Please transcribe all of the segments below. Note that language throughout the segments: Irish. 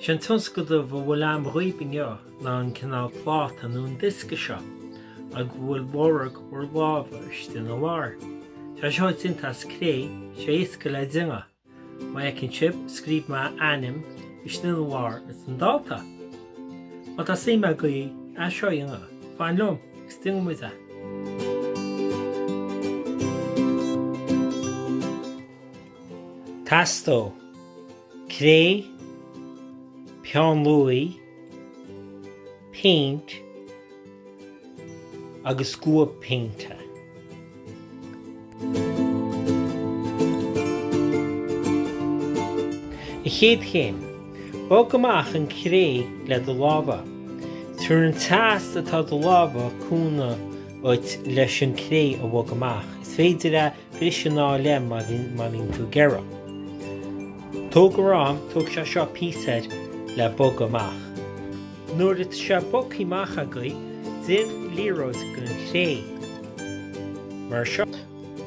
Sé an tionscadal a bhfuil agam dhaoibh inniu ná an cineál pláta nó an diosca seo ag a bhfuil lorg bhur láimhe istigh ina lár. Tá seo déanta as cré, sé éasca le déanamh. Má fheiceann sibh, scríobh mé ainm istigh ina lár is an dáta. Má tá suim agaibh é seo a dhéanamh, fan liom agus déanfaidh muid é. Teastóidh. cré, peann luaí, péint agus scuab péinte. An chéad chéim, bog amach an cré le do lámha. Tabharfaidh an teas atá i do lámha cúnamh dhuit leis an cré a bhog amach. Is féidir a bhriseadh ina dhá leath má bhíonn tú ag iarraidh. Tóg d'am tóg sé seo píosa le bog amach. Nuair atá sé bogtha amach agaibh déan liathróid den chré. Mar seo.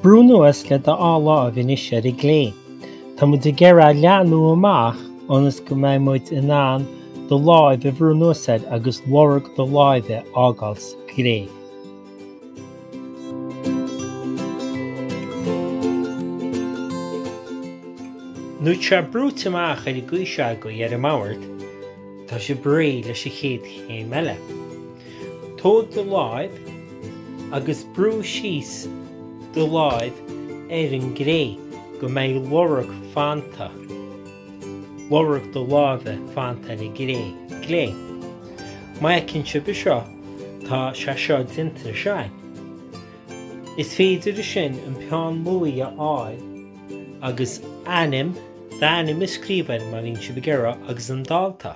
Brú anuas le do dhá láimh anois ar an gcré. Tá muid ag iarraidh a leathnú amach ionas go mbeidh muid in ann do láimh a bhrú anuas air agus lorg do láimhe a fhágáil sa gcré. Nuair atá sé brúite amach ar an gcaoi seo agaibh ar an mbord, tá sé réidh leis an chéad chéim eile. Tóg do láimh agus brú síos do láimh ar an gcré go mbeidh lorg fanta. lorg do láimhe fanta ar an gcré. Má fheiceann sibh é seo, tá sé seo déanta ansin. Is féidir ansin an peann luaidhe a fháil agus ainm d'ainm a scríobh air, má bhíonn sibh ag iarraidh, agus an dáta.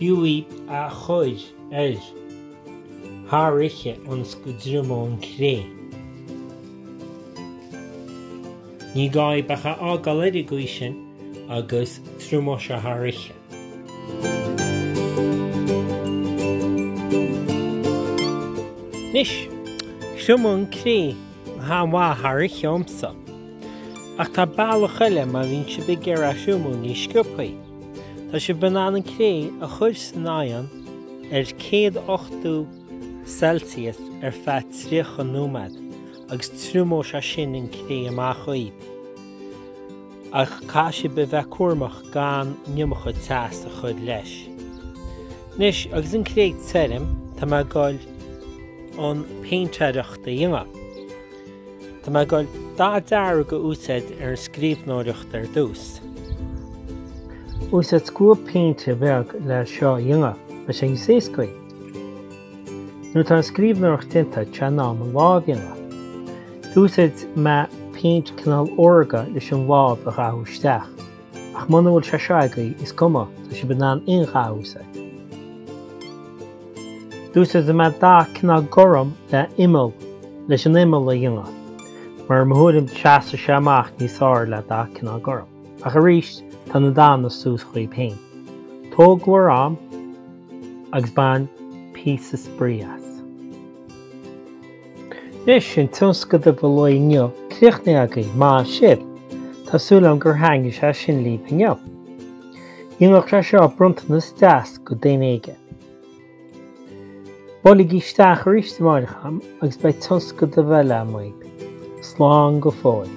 Bhuaigh a chuir air thar oíche ionas go dtriomóidh an cré. Ní gá dhaoibh ach é a fhágáil ar an gcaoi sin agus triomóidh sé thar oíche. Anois, triomóidh an cré an-mhaith thar oíche dhomsa. Ach tá bealach eile má bhíonn sibh ag iarraidh é a thriomú níos sciopthaí. Tá sibh in ann an cré a chuir san oigheann ar 180 Celsius ar feadh 30 nóiméad agus triomóidh sé sin an cré amach dhaoibh. Ach caithfidh sibh a bheith cúramach gan an iomarca teas a chuir leis. Anois agus an cré tirim tá mé ag dul an péintéireacht a dhéanamh. Tá mé ag gabháil dath dearg a úsáid ar an scríbhneoireacht ar dtús. Úsáid scuab péinte beag le seo a dhéanamh, beidh sé níos éascaí. Nuair atá an scríbhneoireacht déanta, tá sé in am an lámh a dhéanamh. D'úsáid mé péint cineál órga leis an lámh a dhathú isteach. Ach muna bhfuil sé seo agaibh, is cuma, tá sibh in ann aon cheann a úsáid. D'úsáid mé dath cineál gorm le imeall leis an imeall a dhéanamh, mar i mo thuairim seasfaidh sé amach níos fearr le dath cineál gorm. Ach arís, tá na dathanna suas daoibh féin. Tóg bhur am agus bain píosa spraoi as. Anois sin tionscadal an lae inniu críochnaithe agaibh, maith sibh! Tá súil agam gur thaitin sé sin libh inniu. Dhéanfadh sé seo bronntanas deas do dhuine éigin. Buailigí isteach arís amárach agam agus beidh tionscadal eile againn. Slán go fóill.